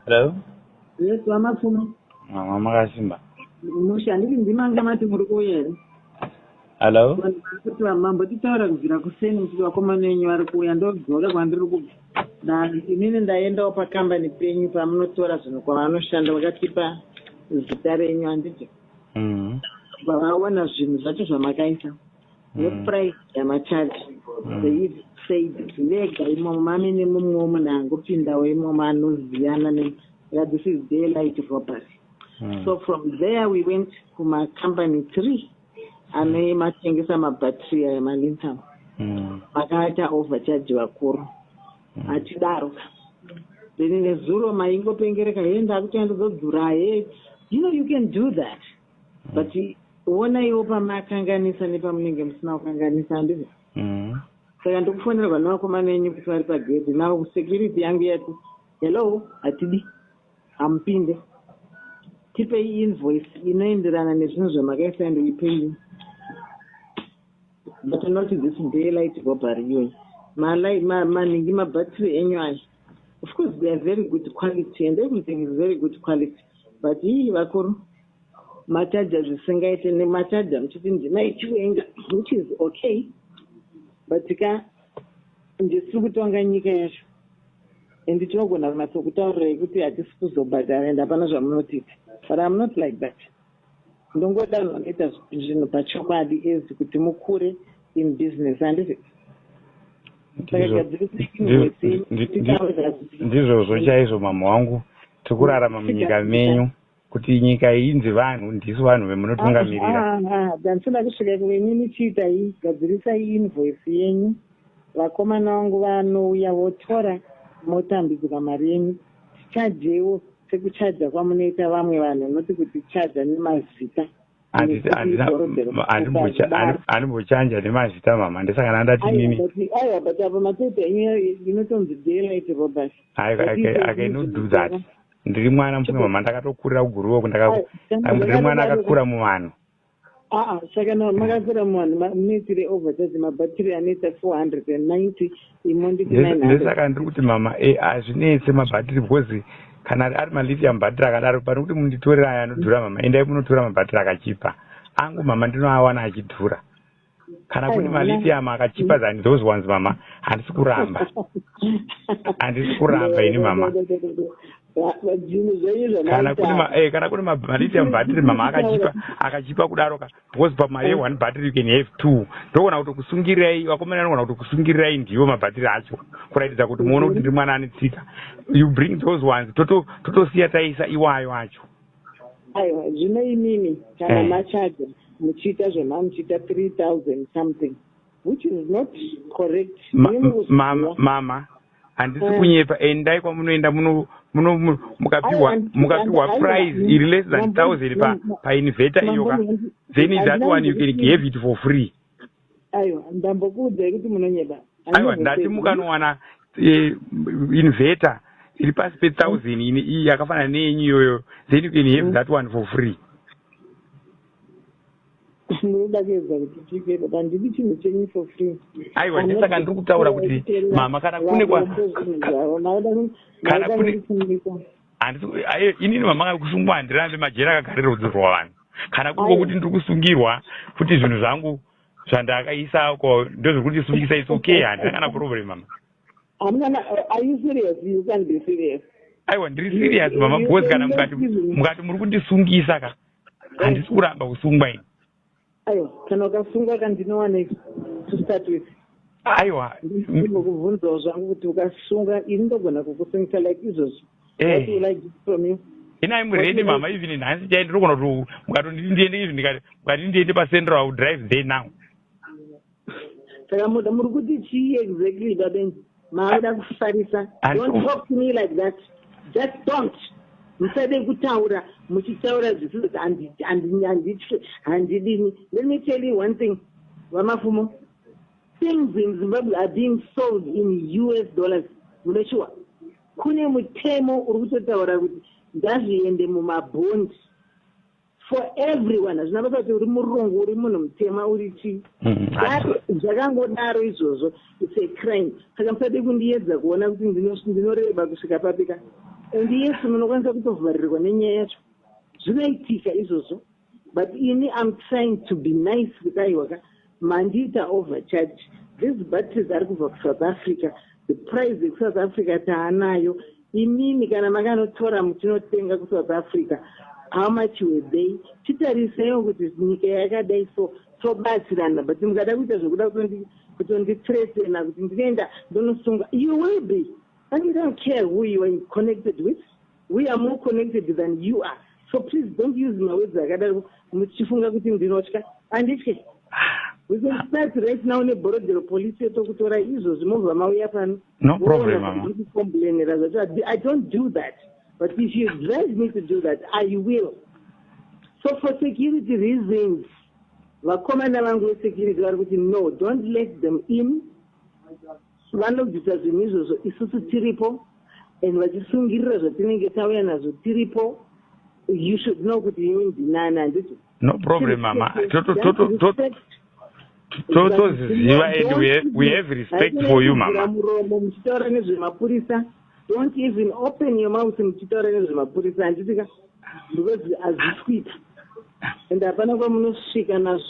Hello? Yes, vaMapfumo. Mama makasimba. Musha, handiti ndimanga mati muri kuuya here? Hello? Vanhu vari kuti mambotichaura kubvira kuseni muchiti vakomana venyu vari kuuya ndodzoka kwandiri kubva. Na inini ndaendawo pakambani penyu pamunotora zvinhu kwavanoshanda vakatipa zita renyu handiti? Mm. Vavaona zvinhu zvacho zvamakaisa. neprice yamachaji seif said vega imomo mami nemumwewo munhu angopindawo imomo anoziyana ne yeah, this is day light robbery hmm. so from there we went kumacompany three ane matengesa mabattery aya malintam hmm. makaata overcharge vakuru hmm. hatidaro ka then nezuro maingopengereka hee ndakutoenda dzodzura hee you know you can do that but wonaiwo pamakanganisa nepamunenge musina kukanganisa handiza mm. saka ndikufonerwa nevakomana enyu kuti vari pagedhi now security yangu yati hello hatidi hamupinde tipei invoice inoenderana nezvinhu zvamakaisa and uipei but not this daylight robbery iyoyi manhingi mabattery enyu aya of course they are very good quality and everything is very good quality but ii vakuru machaja zvisingaite nemachaja muchiti ndima ichiwenga which is okay but ka ndisiri kutonga nyika yacho and tinogona kunatso kutaurirai kuti hatisi kuzobhadhara and hapana zvamunotiita but am not like that ndongoda vanoita zvinhu pachokwadi as kuti mukure in business handizi ndizvozvo chaizvo mama wangu tiri kurarama munyika menyu kuti nyika inzi vanhu ndisu vanhu vemunotungamirira ah, ah, ah, dansoda kusvika kuvenini chiitai gadzirisai invoice yenyu vakomana vangu vanouya votora motambidzwa mari yenyu tichajewo sekuchaja kwamunoita vamwe vanhu noti kuti chaja nemazita animbochanja nemazita mama ndisangana ndati nini aiwa but apa matete enyu inotonzi daylight robert i no do that ndiri mwana mfunge mama ndakatokurira kuguruoko ndiri mwana akakura muvanhu aa saka na makatora muvanhu munoitire overcharge mabhatiri anoita 490 imo nditi 900 ndosaka ndiri kuti mama e hazvinetse mabhatiri because kana ari malithium bhatiri akadaro pane kuti munditorera aya anodhura mama endai munotora mabhatiri akachipa angu mama ndinoawana achidhura kana kune malithium akachipa than those ones mama handisi kuramba handisi kuramba ini mama kana kune eh, kana kune malithium battery mama akachipa akachipa kudaro ka because pamari yeone battery you can have two ndogona kuti kusungirirai vakomana anogona kuti kusungirirai ndiwo mabhatiri acho kuratidza kuti muone kuti ndiri mwana ane tsika you bring those ones totosiya taisa iwayo acho aiwa zvino imimi kana eh. machaja muchiita zvema muchiita 3000 something which is not correct mama mama handisi eh. kunyepa endai kwamunoenda muno muno mukapiwa mukapiwa prize iri less than thousand pa painveta iyoka then that one you can give it for free aiwa ndambokuudzai kuti munonyeba aiwa ndati mukanowana eh, inverter iri pasi pethousand mm. ini iyi yakafanana neyenyu iyoyo then you can have mm. that one for free ndinoda kuedza kuti chipero pandidi chinhu chenyu for free aiwa ndisaka ndiri kutaura kuti mama kana kune kwa kana kune Handisi ku- aye, inini mama vangu kusungwa handirambe majeri akagarira rudzi rwavanhu kana kuri Aye. kwokuti ndiri kusungirwa kuti zvinhu zvangu zvandakaisa ko ndozviri kuti sungisa it's okay handina kana problem mama Hamuna na- are you serious? You can't be serious. aiwa ndiri serious mama because kana mukati mukati muri kundisungisa ka handisi kuramba kusungwa ini aiwa kana ukasungwa ka ndinowaneiko to start with aiwa ndinokubvunzawo zvangu kuti ukasunga ini ndogona kukusungisa like izvozvo eh. what will i get from you ina im ready mama even nhasi chai ndinogona kuti mukatonditi ndiende izvi ndikati mukatiti ndiende pacentral i will drive there now saka moda muri kuti chii exactly baben maoda kufarisa don't talk to me like that just don't musade kutaura muchitaura zvisiz handitye handidini let me tell you one thing vamafumo things in zimbabwe are being sold in us dollars munoshuwa kune mutemo uri kutotaura kuti ngazviende mumabhondi for everyone hazvina basa kuti uri murungu uri munhu mutema uri chii mm, zvakangodaro izvozvo its a crime saka musade kundiyedza kuona kuti ndinoreba kusvika papi ka and yesu munokwanisa kutovharirwa nenyaya yacho zvinoitika izvozvo but ini am trying to be nice kudaiwa ka Mandiita over charge these batteries ari kubva kusouth africa the price yekusouth africa taanayo imimi kana makanotora mutinotenga kusouth africa how much were they titariseiwo kuti nyika yakadai so tobatsirana but mukada kuita zvekuda kutondithretena kuti ndinoenda ndonosunga you will be i don't care who you are connected with We are more connected than you are so please don't use mawords akadaro muchifunga kuti ndinotya anditye we can start right now neborodero police yotokutora izvozvi mobva mauya pano no problem mama complainera zvacho i don't do that but if you drive me to do that i will so for security reasons vakomana vangu vesecurity vari kuti no don't let them in Vanobvisa zvinhu izvozvo isusu tiripo and vachisungirira zvatinenge tauya nazvo tiripo you should know kuti ini ndinani handiti no problem mama toziziva and we have respect for you mama muromo muchitaura nezvemapurisa don't even open your mouth muchitaura nezvemapurisa handiti ka because hazvisi kuita and hapana kwamunosvika nazvo